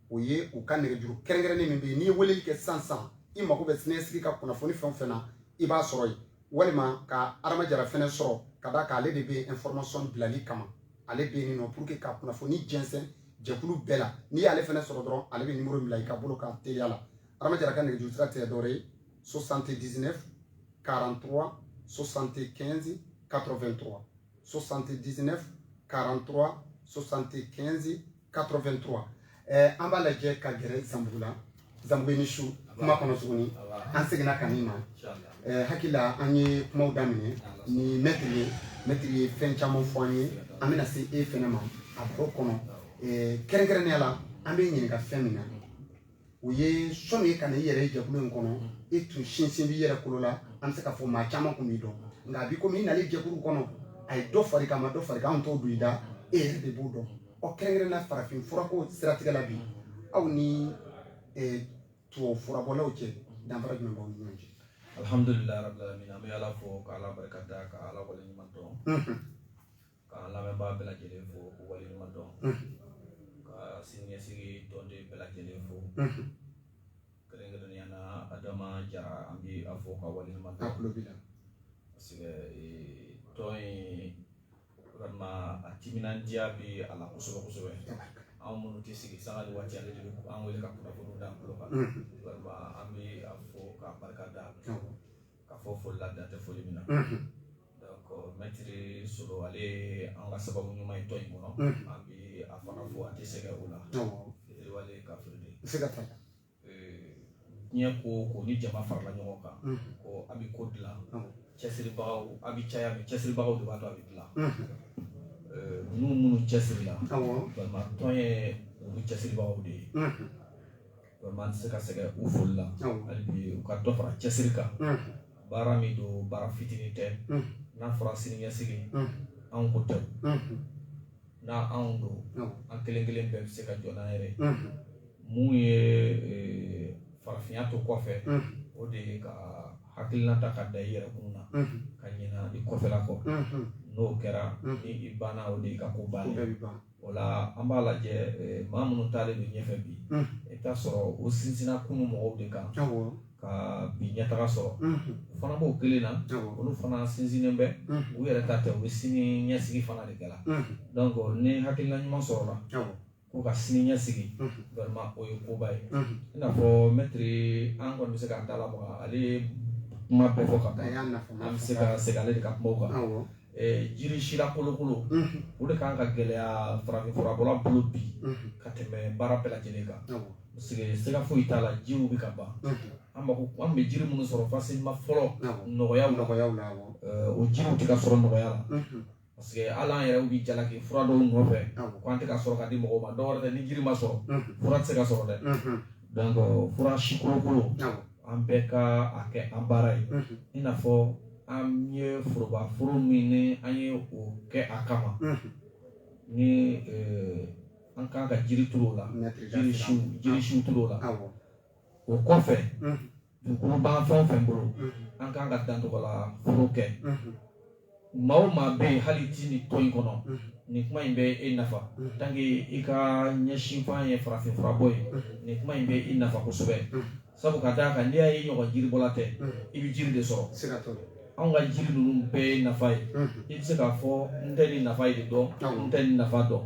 Speaker 1: o ye u ka nɛgɛjuru kɛrɛnkɛrɛnnen min bɛ yen n'i ye weleli kɛ sisan sisan i mago bɛ siniɲɛsigi ka kunnafoni fɛn o fɛn na i b'a sɔrɔ yen walima ka Adama Jara fɛnɛ sɔrɔ ka d'a kan ale de bɛ information bilali kama ale bɛ yen nɔ pour que ka kunnafoni jɛnsɛn jɛkulu bɛɛ la n'i y'ale fɛnɛ sɔrɔ dɔrɔn ale bɛ nimɔrɔ bila i ka bolo kan teliya la Adama Jara ka nɛgɛjuru sira tɛ dɔwɛrɛ ye 79 43 75 83 79 43 75 83 ɛɛ an b'a lajɛ ka gɛrɛ Zanbugu la Zanbugu i ni su kuma kɔnɔ tuguni an seginna ka n'i ma ɛɛ hakili la an ye kumaw daminɛ ni mɛtiri ye mɛtiri ye fɛn caman fɔ an ye an bɛna se e fɛnɛ ma a baro kɔnɔ ɛɛ kɛrɛnkɛrɛnnenya la an bɛ ɲininka fɛn min na o ye sɔnni e ka na i yɛrɛ ye jɛkulu in kɔnɔ e tun sinsin b'i yɛrɛ kolo la an bɛ se k'a fɔ maa caman tun b'i dɔn nka a bi komi i nalen jɛkulu kɔnɔ a ye dɔ far'i kan a ma dɔ far'i kan anw t'o don i da e yɛrɛ de b'o dɔn ɔ kɛrɛnkɛrɛn na farafin furako siratigɛ la bi aw ni eh, tubabu furabɔlaw cɛ danfara jumɛn b'aw ni ɲɔgɔn cɛ alhamdulilayi rabil
Speaker 4: alamin an bɛ ala fo ka ala barika da ka ala waleɲuman dɔn k'an lamɛnbaa bɛɛ lajɛlen fo k'u waleɲuman dɔn ka siniɲɛsigi tɔnden bɛɛ lajɛlen fo kɛrɛnkɛrɛnnenya na Adama Jara an bɛ a fo ka waleɲuman dɔn a tulo b'i la parce que tɔn in vraiment a timinandiya bɛ a la kosɛbɛ kosɛbɛ anw minnu tɛ sigi sanga ni waati ale de bɛ an wele ka kunnafoniw d'an tulo kan vraiment an bɛ a fo k'a barika da k'a fo foli la dan tɛ foli min na Mɛtiri Solo ale ye an ka sababu ɲuman ye tɔn in kɔnɔ an bɛ a fana fo a tɛ sɛgɛn o la parce que diɲɛ ko o ko ni jama farala ɲɔgɔn kan ko a bɛ ko dilan cɛsiribagaw a bɛ caya mais cɛsiribagaw de b'a to a bɛ dilan minnu minnu cɛsirila vraiment tɔn ye olu cɛsiribagaw de ye an tɛ se ka sɛgɛn u foli la hali bi u ka dɔ fara cɛsiri kan baara min don baara fitinin tɛ n'a fɔra siniɲɛsigi anw ko tɛ n'a anw don an kelen kelen bɛɛ bɛ se ka jɔ n'an yɛrɛ mun ye farafinya to kɔfɛ o de ye ka hakilina ta ka da i yɛrɛ kun na ka ɲinɛ i kɔfɛla kɔ n'o kɛra ni i banna o de i ka ko banna o la an b'a lajɛ maa minnu taalen don ɲɛfɛ bi i t'a sɔrɔ u sinsinna kunun mɔgɔw de kan ka bi ɲɛtaga sɔrɔ o fana b'o kelen na olu fana sinsinnen bɛ u yɛrɛ ta tɛ u bɛ sini ɲɛsigi fana de kɛ la donc ni hakilina ɲuman sɔrɔla ko ka sini ɲɛsigi vraiment o ye koba ye i n'a fɔ mɛtiri an kɔni bɛ se k'an da lamaga ale ye kuma bɛɛ fɔ ka ban an bɛ se ka segin ale de ka kumaw kan jiri siya kolokolo o de kan ka gɛlɛya farafinfurabɔla bolo bi ka tɛmɛ baara bɛɛ lajɛlen kan parce que siga foyi t'a la jiriw bɛ ka ban an bɛ jiri minnu sɔrɔ facilement fɔlɔ nɔgɔya nɔgɔya la o jiriw tɛ ka sɔrɔ nɔgɔya la parce que hali an yɛrɛ bɛ jalaki fura dɔw nɔfɛ ko an tɛ ka sɔrɔ ka di mɔgɔw ma dɔ wɛrɛ tɛ ni jiri ma sɔrɔ fura tɛ se ka sɔrɔ dɛ fura si kolokolo an bɛɛ ka a kɛ an baara ye i n'a fɔ an ye forobaforo min ni an ye o kɛ a kama ni an kan ka jiri turu o la jiri si turu o la o kɔfɛ dugukolo b'an fɛn o fɛn bolo an kan ka dan tɔgɔlaforo kɛ maa o maa bɛ yen hali i tɛ nin tɔn in kɔnɔ nin kuma in bɛ e nafa tant que i ka ɲɛsinfan ye farafin furabɔ ye nin kuma in bɛ i nafa kosɛbɛ sabu ka d'a kan n'i y'a ye ɲɔgɔn jiribɔla tɛ i bɛ jiri de sɔrɔ anw ka jiri ninnu bɛɛ ye nafa ye i bɛ se k'a fɔ n tɛ nin nafa in de dɔn n tɛ nin nafa dɔn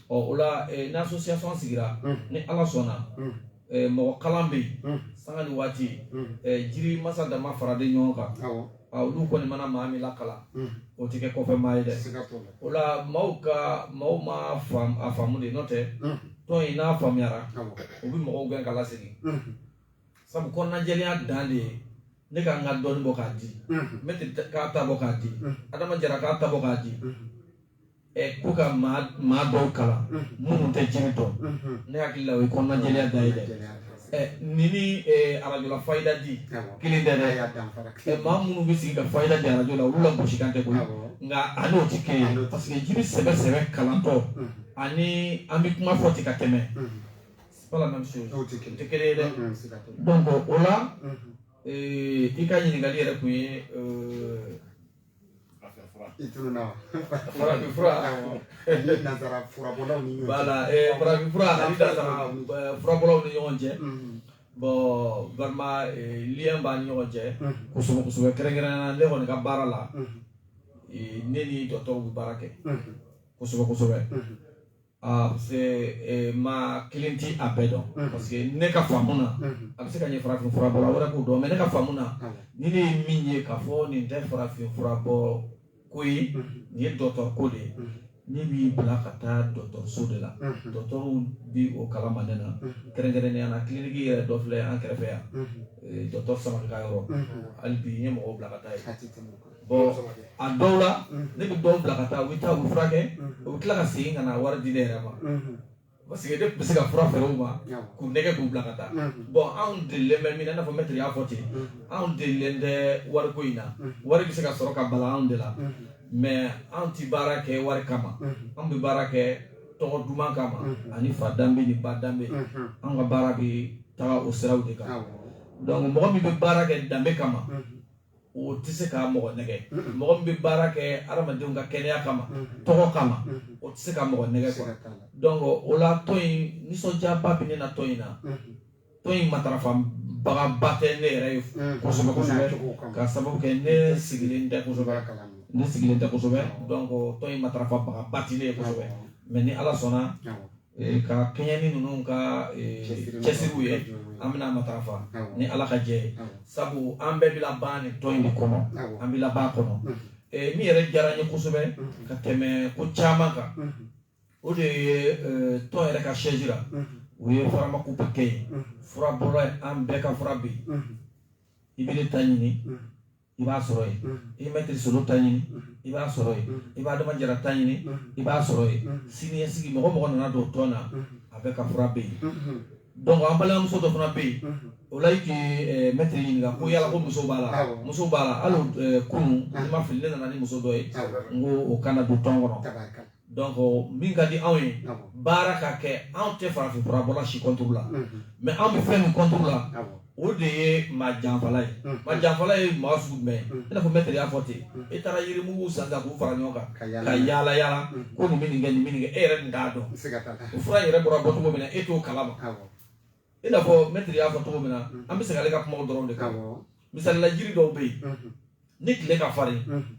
Speaker 4: ɔ o la ni association sigira ni ala sɔnna eh, mɔgɔ kalan bɛ yen Mm. sanga ni waati Mm. eh, jiri masa dama faralen ɲɔgɔn kan Awɔ. Ah, olu kɔni mana maa min lakalan Mm. o tɛ kɛ kɔfɛ maa ye dɛ Siga t'o la. o la maaw ka maaw ma faam- a faamu de n'o tɛ Mm. tɔn in n'a faamuyara Awɔ. u bɛ mɔgɔw gɛn ka lasegin Mm. sabu kɔnɔnajɛlenya dan de ye ne ka n ka dɔɔni bɔ k'a di Mm. mɛtiri ta- k'a ta bɔ k'a di Mm. adama jara k'a ta bɔ k'a di Mm. K'u ka maa dɔw kalan minnu tɛ jiri dɔn ne hakili la o ye kɔnɔnajɛya dan ye dɛ ni ni arajo la fayida di kelen tɛ dɛ maa minnu bɛ sigi ka fayida di arajo la olu lagosi kan tɛ koyi nka a n'o tɛ kelen ye parce que jiri sɛbɛ sɛbɛ kalantɔ ani an bɛ kuma fɔ ten ka tɛmɛ o tɛ kelen ye dɛ donc o la i ka ɲininkali yɛrɛ tun ye I tununna wa? Farafin
Speaker 1: fura, awɔ, ani nansara furabɔlaw ni ɲɔgɔn cɛ, voilà
Speaker 4: farafin fura ani nansara furabɔlaw ni ɲɔgɔn cɛ, unhun, bon vraiment lien b'a ni ɲɔgɔn cɛ, unhun, kosɛbɛ kosɛbɛ kɛrɛnkɛrɛnnenya la ne kɔni ka baara la, unhun, ne ni docteur bɛ baara kɛ, unhun, kosɛbɛ kosɛbɛ, unhun. parce que maa kelen tɛ a bɛɛ dɔn parce que ne ka faamu na a bɛ se ka ɲɛ farafin furabɔla wɛrɛ k'o dɔn mais ne ka faamu na ni ne ye min ye k'a fɔ nin tɛ farafin furabɔ ko ye nin ye dɔgɔtɔrɔ ko de ye ne b'i bila ka taa dɔgɔtɔrɔso de la dɔgɔtɔrɔw bɛ o kalama ne na kɛrɛnkɛrɛnnenya na kiliniki yɛrɛ dɔ filɛ an kɛrɛfɛ yan dɔgɔtɔrɔ Samake ka yɔrɔ hali bi n ye mɔgɔ bila ka taa yen a dɔw la ne bɛ dɔw bila ka taa u bɛ taa u furakɛ u bɛ tila ka segin ka na wari di ne yɛrɛ ma parce que ne bɛ se ka fura feere u ma k'u nɛgɛ k'u bila ka taa bon anw delilen bɛ min na i n'a fɔ mɛtiri y'a fɔ ten anw delilen tɛ wariko in na wari bɛ se ka sɔrɔ ka bala anw de la mais anw tɛ baara kɛ wari kama anw bɛ baara kɛ tɔgɔ duman kama ani fa danbe ni ba danbe anw ka baara bɛ taga o siraw de kan donc mɔgɔ min bɛ baara kɛ danbe kama o tɛ se ka mɔgɔ nɛgɛ mɔgɔ min bɛ baara kɛ adamadenw ka kɛnɛya kama tɔgɔ kama o tɛ se ka mɔgɔ nɛgɛ quoi donc o la tɔn in nisɔndiyaba bɛ ne na tɔn in na tɔn in matarafabagaba tɛ ne yɛrɛ ye kosɛbɛ kosɛbɛ ka sababu kɛ ne sigilen tɛ kosɛbɛ ne sigilen tɛ kosɛbɛ donc tɔn in matarafabagaba tɛ ne ye kosɛbɛ mais ni ala sɔnna Ee, ka kɛɲɛ ni ninnu ka ee, Cɛsiri cɛsiriw ye matarafa. an bɛna matarafa Awɔ. ni ala ka jɛn ye Awɔ. sabu an bɛɛ bɛ laban nin tɔn in de kɔnɔ Awɔ. an bɛ laban a kɔnɔ Mhm. Ee, min yɛrɛ diyara n ye kosɛbɛ Mhm. ka tɛmɛ ko caman kan Mhm. o de ye ee, tɔn yɛrɛ ka siège la Mhm. u ye pharmacopée kɛ yen Mhm. fura bɔra yen, an bɛɛ ka fura bɛ yen Mhm. i bɛ ne ta ɲini Mhm. i b'a sɔrɔ yen i bɛ mɛtiri solo ta ɲini i b'a sɔrɔ yen i b'adama jara ta ɲini i b'a sɔrɔ yen siniɲɛsigi mɔgɔ mɔgɔ nana don tɔn na a bɛɛ ka fura bɛ yen donc an balimamuso dɔ fana bɛ yen o la i tun ye mɛtiri ɲininka ko yala ko muso b'a la muso b'a la hali kunun i ma fili ne nana ni muso dɔ ye n ko o kana don tɔn kɔnɔ donc min ka di anw ye baara ka kɛ anw tɛ farafin fura bɔla si contre la mais anw bɛ fɛn min contre la o de ye maa janfala ye maa janfala ye maa sugu jumɛn i n'a fɔ mɛtiri y'a fɔ ten i taara yirimugu san ka k'u fara ɲɔgɔn kan ka yaala yaala ko nin bɛ nin kɛ nin bɛ nin kɛ e yɛrɛ nin t'a dɔn o fura yɛrɛ bɔra bɔcogo min na e t'o kalama i n'a fɔ mɛtiri y'a fɔ cogo min na mm-hmm. an bɛ segin ale ka kumaw dɔrɔn de kan misali la jiri dɔw bɛ yen mm-hmm. ni tile ka farin mm-hmm.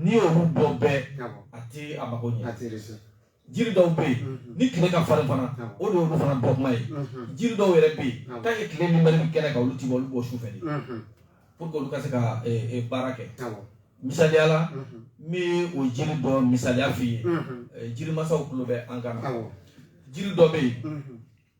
Speaker 4: n'i y'olu bɔ bɛɛ a tɛ a mago ɲɛ jiri dɔw bɛ yen ni tile ka farin fana o de y'olu fana bɔ kuma ye jiri dɔw yɛrɛ bɛ yen tant que tile min bɛ kɛnɛ kan olu ti bɔ olu bɔ su fɛ de pour que olu ka se ka eh, eh, baara kɛ. misaliya la n bɛ o jiri dɔ misaliya f'i ye jirimasaw tulo bɛ an kan na jiri dɔ bɛ yen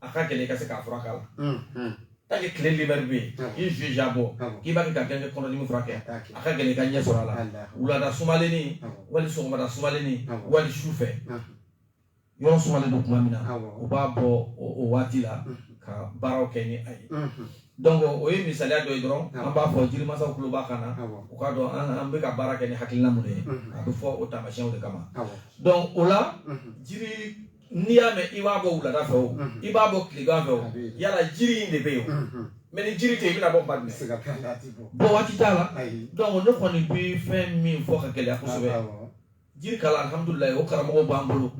Speaker 4: a ka gɛlɛn i ka se k'a fura k'a la tant que tile libɛri bɛ yen i ye sinjan bɔ k'i b'a kɛ ka ganke kɔnɔdimi furakɛ a ka gɛlɛn i ka ɲɛ sɔrɔ a la wulada sumalenni wali sɔgɔmada sumalenni wali su fɛ yɔrɔ sumalen don tuma min na u b'a bɔ o waati la ka baaraw kɛ ni a ye donc o ye misaliya dɔ ye dɔrɔn an b'a fɔ jirimasaw tulo b'an kan na u k'a dɔn an bɛ ka baara kɛ ni hakilina mun de ye a bɛ fɔ o taamasiyɛnw de kama donc o la jiri n'i y'a mɛn i b'a bɔ wulada fɛ o i b'a bɔ tilegan fɛ o yala jiri in de bɛ yen o mais ni jiri tɛ yen i bɛna bɔ kuma jumɛn bɔ waati t'a la donc ne kɔni bɛ fɛn min fɔ k'a gɛlɛya kosɛbɛ jiri kalan alhamdulilayi o karamɔgɔw b'an bolo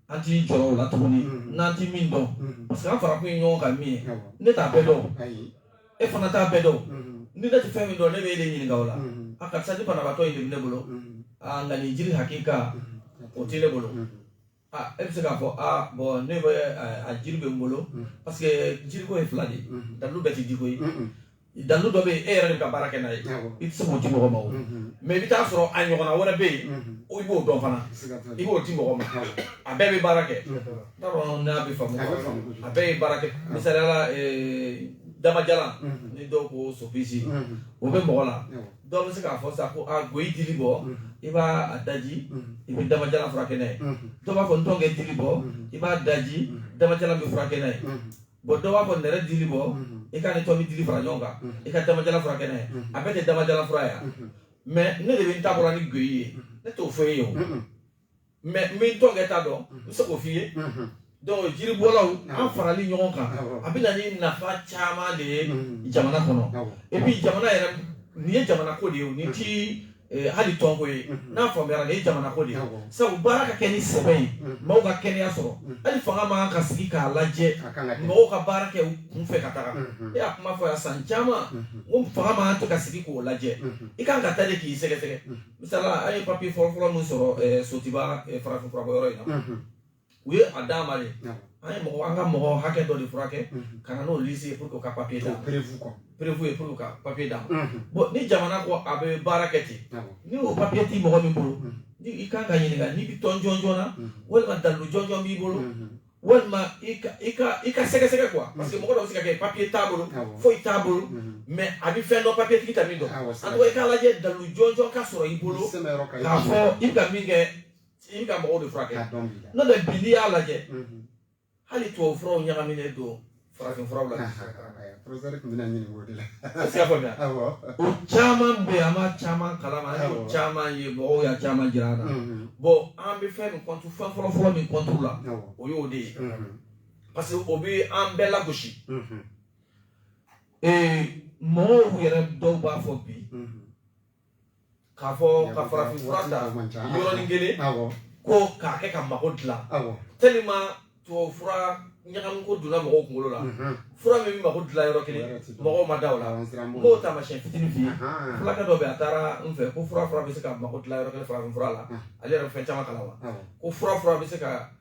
Speaker 4: an ti jɔrɔ o la tuguni n'an ti min dɔn parce que an farakun ye ɲɔgɔn kan min ye ne t'a bɛɛ dɔn e fana t'a bɛɛ dɔn ni ne tɛ fɛn min dɔn ne bɛ e de ɲininka o la a karisa nin banabaatɔ in de bɛ ne bolo a nka nin jiri hakika o tɛ ne bolo ah e bɛ se k'a fɔ ah bon ne bɛ a jiri bɛ n bolo parce que jiriko ye fila de ye dalu bɛɛ tɛ diko ye dalu dɔ bɛ yen e yɛrɛ de bɛ baara kɛ n'a ye i tɛ se k'o di mɔgɔ ma o mais i bɛ taa sɔrɔ a ɲɔgɔnna wɛrɛ bɛ yen i b'o dɔn fana i b'o di mɔgɔ ma a bɛɛ bɛ baara kɛ n t'a dɔn n'a bɛ faamu a bɛɛ ye baara kɛ misaliya la damajalan ni dɔw ko sopisi o bɛ mɔgɔ la dɔw bɛ se k'a fɔ sa ko a goyi dili bɔ i b'a a daji i bɛ damajalan furakɛ n'a ye dɔw b'a fɔ ntɔnkɛ dili bɔ i b'a daji damajalan bɛ furakɛ n'a ye bon dɔw b'a fɔ nɛrɛ dili bɔ i k'a ni tomi dili fara ɲɔgɔn kan i ka damajalan furakɛ n'a ye a bɛɛ tɛ damajalan fura ye mais ne de bɛ n ta bɔra ni goyi ye ne t'o fɔ e ye o mais n bɛ tɔ kɛ ta dɔn n bɛ se k'o f'i ye donc jiribɔlaw an farali ɲɔgɔn kan a bɛ na ni nafa caman de ye jamana kɔnɔ et puis jamana yɛrɛ nin ye jamana ko de ye o nin ti eh, hali tɔnko ye n'a faamuyara nin ye jamana ko de ye sabu baara ka kɛ ni sɛbɛn ye maaw ka kɛnɛya sɔrɔ hali fanga man kan ka sigi k'a lajɛ mɔgɔw ka baara kɛ u kun fɛ ka taga e y'a kuma fɔ yan san caman ko fanga man kan ka sigi k'o lajɛ i kan ka taa de k'i sɛgɛsɛgɛ misala an ye papiye fɔlɔfɔlɔ min sɔrɔ eh, Sotuba eh, farafin furabɔyɔrɔ in na Mhm. u ye a d'an ma de Awɔ. an ye mɔgɔ an ka mɔgɔ hakɛ dɔ de furakɛ Mhm. ka na n'o liste ye pour que u ka papiye d'an O ma preuve quoi. preuve ye pour que u ka papiye d'an ma Mhm. bon ni jamana ko a bɛ baara kɛ ten Awɔ. ni o papiye ti mɔgɔ min bolo Mhm. ni i kan ka ɲininka n'i bɛ tɔn jɔnjɔn na Mhm. walima dalilu jɔnjɔn b'i bolo Mhm. walima i ka i ka i ka sɛgɛsɛgɛ quoi parce que mɔgɔ dɔ bɛ se ka kɛ papier t'a bolo foyi t'a bolo mais a bɛ fɛn dɔn papier tigi tɛ min dɔn en tout cas i k'a lajɛ dalu jɔnjɔn ka sɔrɔ i bolo k'a fɔ i bɛ ka min kɛ i bɛ ka mɔgɔw de furakɛ n'o tɛ bi n'i y'a lajɛ hali tubabu furaw ɲagaminen don farafin furaw la professeur tun
Speaker 1: bɛna ɲininka o de la est-ce qu'i y'a
Speaker 4: faamuya awɔ o caman bɛ yen an b'a caman kalama an y'o Awɔ. caman ye mɔgɔw y'a caman jira an na Mhm. bon an bɛ fɛn min contre fɛn fɔlɔfɔlɔ min contre la awɔ o y'o de ye Mhm. parce que o bɛ an bɛɛ lagosi Mhm. ee mɔgɔw yɛrɛ dɔw b'a fɔ bi Mhm. k'a fɔ ka farafin fura ta yɔrɔnin kelen ko k'a kɛ ka mago dilan tellement tubabu fura ɲagami ko donna mɔgɔw kunkolo la mhm. fura min bɛ mako dilan yɔrɔ kelen mɔgɔw ma da o la n b'o taamasiyɛn fitinin f'i ye fulakɛ dɔ bɛ yen a taara n fɛ ko fura fura bɛ se ka mako dilan yɔrɔ kelen farafin fura la ale yɛrɛ bɛ fɛn caman kalan wa ko fura fura bɛ se ka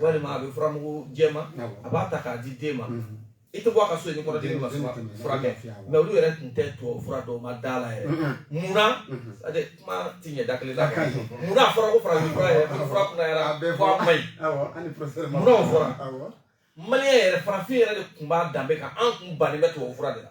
Speaker 4: walima a bɛ furamugu jɛman a b'a ta k'a di den ma i tɛ bɔ a ka so ni kɔnɔdimi ma furakɛ mais olu yɛrɛ tun tɛ tubabu fura don a da la yɛrɛ munna kuma ti ɲɛ da kelen la munna a fɔra ko farafin fura yɛrɛ fura kunayara fo a man ɲi munna o fɔra maliyɛn yɛrɛ farafin yɛrɛ de tun b'a danbe kan an tun bannen bɛ tubabu fura de la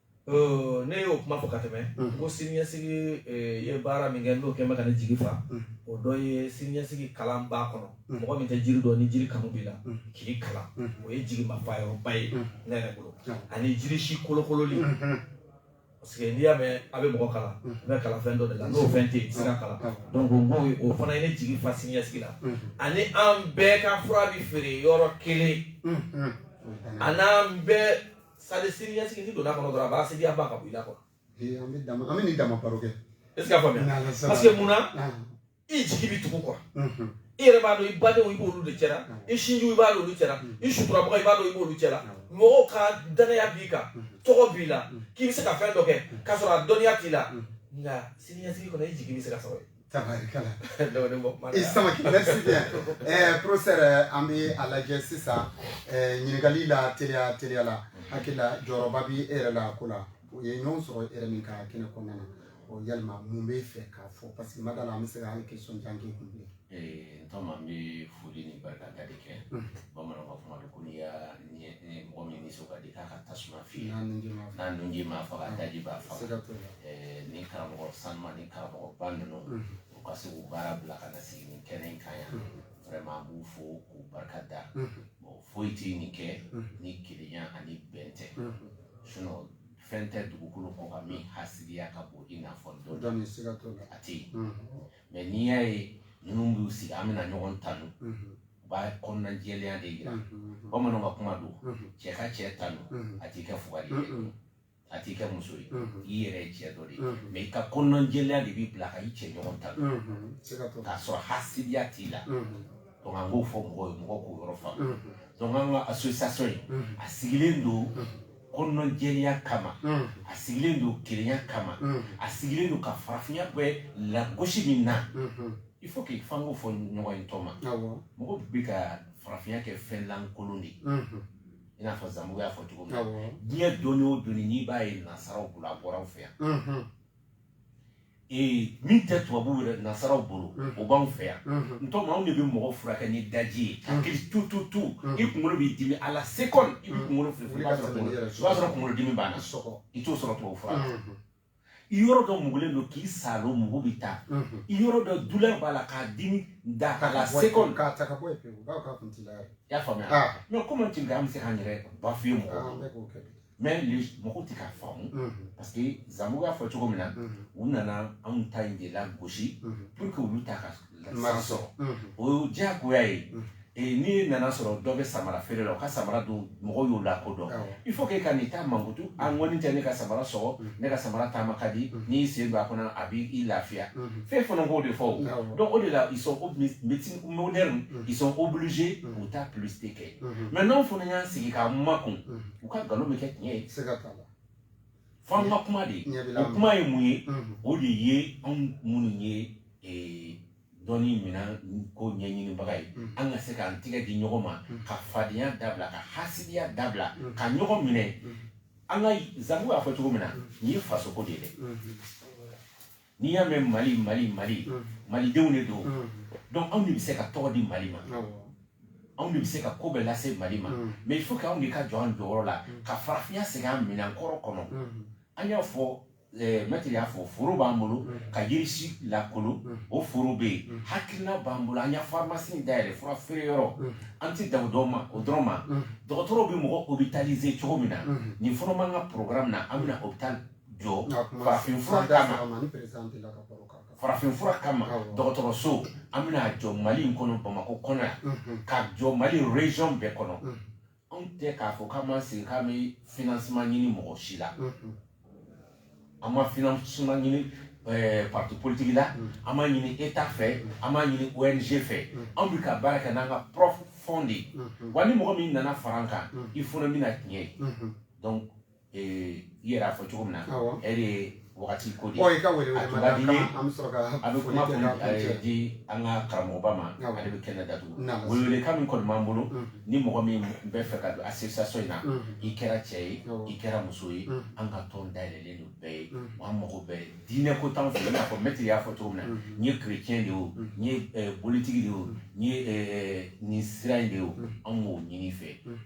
Speaker 4: ne y'o kuma fɔ ka tɛmɛ ko siniɲɛsigi ye baara min kɛ n'o kɛlen bɛ ka ne jigi fa o dɔ ye siniɲɛsigi kalan b'a kɔnɔ mɔgɔ min tɛ jiri dɔn ni jiri kanu b'i la k'i kalan o ye jigimafa yɔrɔba ye ne yɛrɛ bolo ani jiri si kolokololi parce que n'i y'a mɛn a bɛ mɔgɔ kalan n bɛ kalan fɛn dɔ de la n'o fɛn tɛ yen i tɛ se ka kalan donc n b'o ye o fana ye ne jigi fa siniɲɛsigi la ani an bɛɛ ka fura bɛ feere yɔrɔ kelen a n'an bɛɛ c'est-à-dire siniɲɛsigi n'i donna kɔnɔ dɔrɔn a b'a sigi a ba ka bɔ i la quoi ee an bɛ dama an
Speaker 1: bɛ nin dama baro kɛ est ce que a faamuya N'Ala
Speaker 4: sɔnna. parce que mun na Ah, i jigi bɛ tugu quoi mhm. i yɛrɛ b'a dɔn i badenw i b'olu de cɛla i sinjiw i b'a dɔn olu cɛla i suturabaga i b'a dɔn i b'olu cɛla mɔgɔw ka danaya b'i kan tɔgɔ b'i la k'i bɛ se ka fɛn dɔ kɛ k'a sɔrɔ a dɔnniya t'i la nka siniɲɛsigi kɔnɔ i jigi bɛ se ka sɔrɔ yen
Speaker 1: Tabarikala. Dɔwɛrɛ bɔ kuma la. I samaki merci bien. Ɛɛ professeur an bɛ a lajɛ sisan ɛɛ ɲininkali la teliya teliya la hakili la jɔyɔrɔba bɛ e yɛrɛ la ko la u ye ɲɔgɔn sɔrɔ e yɛrɛ min ka kɛnɛ kɔnɔna na o yalima mun b'i fɛ k'a fɔ parce que n ma d'a la an bɛ se ka hali question jan k'i kun bilen. Ee n tɔma n bɛ
Speaker 2: foli ni barikada de kɛ bamananw ka kuma don ko n'i y'a mɔgɔ min nisɔn ka di k'a ka tasuma fiyɛ n'a nunji m'a faga a daji b'a faga ni karamɔgɔ sanuma ni karamɔgɔba ninnu u ka se k'u baara bila ka na sigi nin kɛnɛ in kan yan vraiment an b'u fo k'u barika da bon foyi tɛ nin kɛ ni kelenya ani bɛn tɛ sinon fɛn tɛ dugukolo kɔ kan min hasidiya ka bon i n'a fɔ dɔ a tɛ yen mais n'i y'a ye ninnu b'u sigi an bɛna ɲɔgɔn tanu u b'a kɔnɔna jɛlenya de jira bamananw ka kuma don cɛ ka cɛ tanu a t'i kɛ fugari ye a t'i kɛ muso ye i yɛrɛ ye cɛ dɔ de ye mais i ka kɔnɔna jɛlenya de b'i bila ka i cɛ ɲɔgɔn tanu k'a sɔrɔ hasidiya t'i la donc an b'o fɔ mɔgɔw ye mɔgɔw k'o yɔrɔ faamu donc an ka association in a sigilen don kɔnɔna jɛlenya kama a sigilen don kelenya kama a sigilen don ka farafinya bɛ lagosi min na il faut que f'an k'o fɔ ɲɔgɔn ye n tɔma mɔgɔ bɛ ka farafinya kɛ fɛn lankolon de ye i n'a fɔ Zanbugu y'a fɔ cogo min na diɲɛ dɔnni o dɔnni n'i b'a ye nasaraw bolo a bɔra anw fɛ yan min tɛ tubabu yɛrɛ nasaraw bolo o b'an fɛ yan n tɔma anw de bɛ mɔgɔ furakɛ ni daji ye hakili tu tu tu i kunkolo b'i dimi à la seconde i kunkolo sɔrɔ kunkolo dimi b'a so i t'o sɔrɔ tubabu fura la i yɔrɔ dɔ mugulen don k'i saalo mugu bɛ taa i yɔrɔ dɔ douleur b'a la k'a dimi da à la seconde k'a ta ka bɔ
Speaker 1: yen i y'a faamuya
Speaker 2: mais comment tu veux an bɛ se k'an yɛrɛ bafouer mɔgɔ mais mɔgɔw tɛ k'a faamu parce que Zanbugu y'a fɔ cogo min na u nana anw ta in de lagosi pour que olu ta ka san sɔrɔ o ye diyagoya ye n'i nan'a sɔrɔ dɔ bɛ samara feere la o ka samara dun mɔgɔw y'o lakodɔn il faut que ka n'i ta mankutu a ŋɔni tɛ ne ka samara sɔgɔ ne ka samara taama ka di n'i sen don a kɔnɔ a b'i lafiya fɛn fana b'o de fɔ o donc o de la ils sont médecine moderne ils sont obligés k'u ta publicité kɛ mais n'anw fana y'an sigi k'an makun u ka nkalon bɛ kɛ tiɲɛ ye se ka kala fo an ka kuma de o kuma ye mun ye o de ye anw minnu ye eh, dɔnni minɛn ko ɲɛɲinibaga ye an ka se k'an tigɛ di ɲɔgɔn ma ka fadenya dabila ka hasidiya dabila ka ɲɔgɔn minɛ an ka Zanbugu y'a fɔ cogo min na nin ye fasoko de ye dɛ n'i y'a mɛn mali mali mali mm. malidenw de don mm. donc anw de bɛ se ka tɔgɔ di mali ma anw de bɛ se ka ko bɛɛ lase mali ma mm. mais il faut que anw de ka jɔ an jɔyɔrɔ la ka farafinya segin an minɛn kɔrɔ kɔnɔ an y'a fɔ eh, mɛtiri y'a fɔ foro b'an bolo ka yirisi lakolo o foro bɛ yen hakilina b'an bolo an y'a farimasi dayɛlɛ fura feere yɔrɔ an tɛ dan o dɔrɔn ma dɔgɔtɔrɔw bɛ mɔgɔ hospitaliser cogo min na nin fana b'an ka programme na an bɛna hopital jɔ farafinfura kama farafinfura kama dɔgɔtɔrɔso an bɛna jɔ mali in kɔnɔ bamakɔ kɔnɔ yan mhm. ka jɔ mali région bɛɛ kɔnɔ mhm. anw tɛ k'a fɔ k'an b'an sigi k'an bɛ financement ɲini mɔgɔ si la mhm. an ma financement ɲini eh, parti politique la an m'a ɲini état fɛ an m'a ɲini ong fɛ anw bɛ ka baara kɛ n'an ka propre fonds de ye wa ni mɔgɔ min nana fara an kan i fana bɛna tiɲɛ ye donc ee i yɛrɛ y'a fɔ cogo min na e de ye wagati ko de ye a tun ka di ye an bɛ kuma kun di an ka karamɔgɔba ma ale bɛ kɛnɛ datugu welewelekan min kɔni b'an bolo ni mɔgɔ min bɛ fɛ ka don association in na i kɛra cɛ ye i kɛra muso ye an ka tɔn dayɛlɛlen don bɛɛ ye wa an mago bɛɛ diinɛ ko t'anw fɛ i n'a fɔ mɛtiri y'a fɔ cogo min na n ye chrétien de ye o n ye bolitigi de ye o n ye nin sira in de ye o anw b'o ɲini i fɛ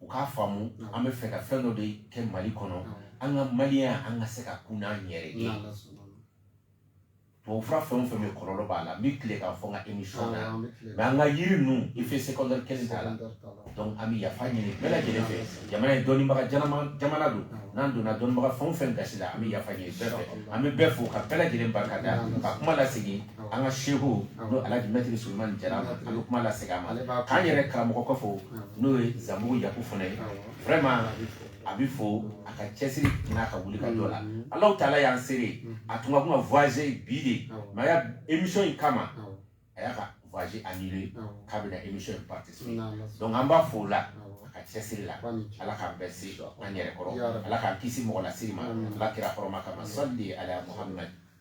Speaker 2: u k'a faamu an bɛ fɛ ka fɛn dɔ de kɛ mali kɔnɔ an ka maliya an ka se ka kun n'an yɛrɛ ye tubabu fura fɛn o fɛn bɛ kɔlɔlɔ b'a la n bɛ tile k'a fɔ n ka émission na mais an ka yiri ninnu effet secondaire kelen t'a la donc an bɛ yafa ɲini bɛɛ lajɛlen fɛ jamana ye dɔnnibaga jamana don n'an donna dɔnnibaga fɛn o fɛn gasi la an bɛ yafa ɲini bɛɛ fɛ an bɛ bɛɛ fo ka bɛɛ lajɛlen barika da ka kuma lasegin an ka seku n'o alhaji mɛtiri sulemani jara an bɛ kuma lase a ma k'an yɛrɛ karamɔgɔ kɔfɛ n'o ye zanbugu yaku fana ye vraiment a bɛ fo a ka cɛsiri n'a ka wuli ka jɔ la alahu taala y'an seere a tun ka kan ka voyager bi de mais a y'a émission in kama a y'a ka voyage annulé k'a bɛna émission in participer donc an b'a fo o la a ka cɛsiri la ala k'an bɛɛ se an yɛrɛ kɔrɔ ala k'an kisi mɔgɔ lasiri ma ala kira hɔrɔma kama sali ala muhamadu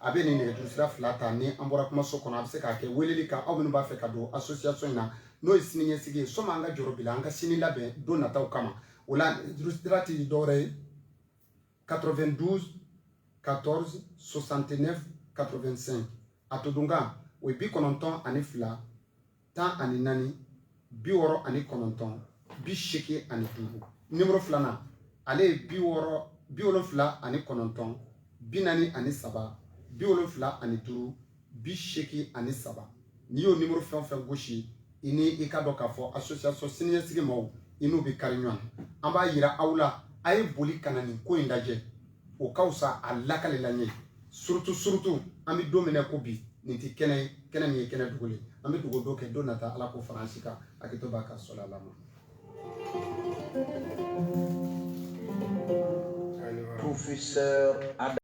Speaker 1: a bɛ nin nɛgɛjuru sira fila ta ni an bɔra kumaso kɔnɔ a bɛ se k'a kɛ weleli kan aw minnu b'a fɛ ka don association in na n'o ye sini ɲɛsigi ye sɔmi an ka jɔrɔ bi la an ka sini labɛn don nataw kama o la nɛgɛjuru sira tɛ dɔwɛrɛ ye 92 14 69 85 a todunkan o ye bi kɔnɔntɔn ani fila tan ani naani bi wɔɔrɔ ani kɔnɔntɔn bi seegin ani duuru nimoro filanan ale ye bi wɔɔrɔ bi wolonfila ani kɔnɔntɔn bi naani ani saba bi wolonfila ani duuru bi seegin ani saba n'i y'o nimoro fɛn o fɛn gosi i ni i k'a dɔn k'a fɔ association siniɲɛsigi maaw i n'u bɛ kari ɲɔgɔn na an b'a yira aw la a ye boli ka na nin ko in lajɛ o ka fisa a lakalila ɲɛ surtout surtout an bɛ don min na ko bi nin tɛ kɛnɛ ye kɛnɛ min ye kɛnɛdugu ye an bɛ dugu dɔ kɛ don nata ala k'o fara an si kan hakɛto b'a ka sɔrɔ ala
Speaker 5: ma Professeur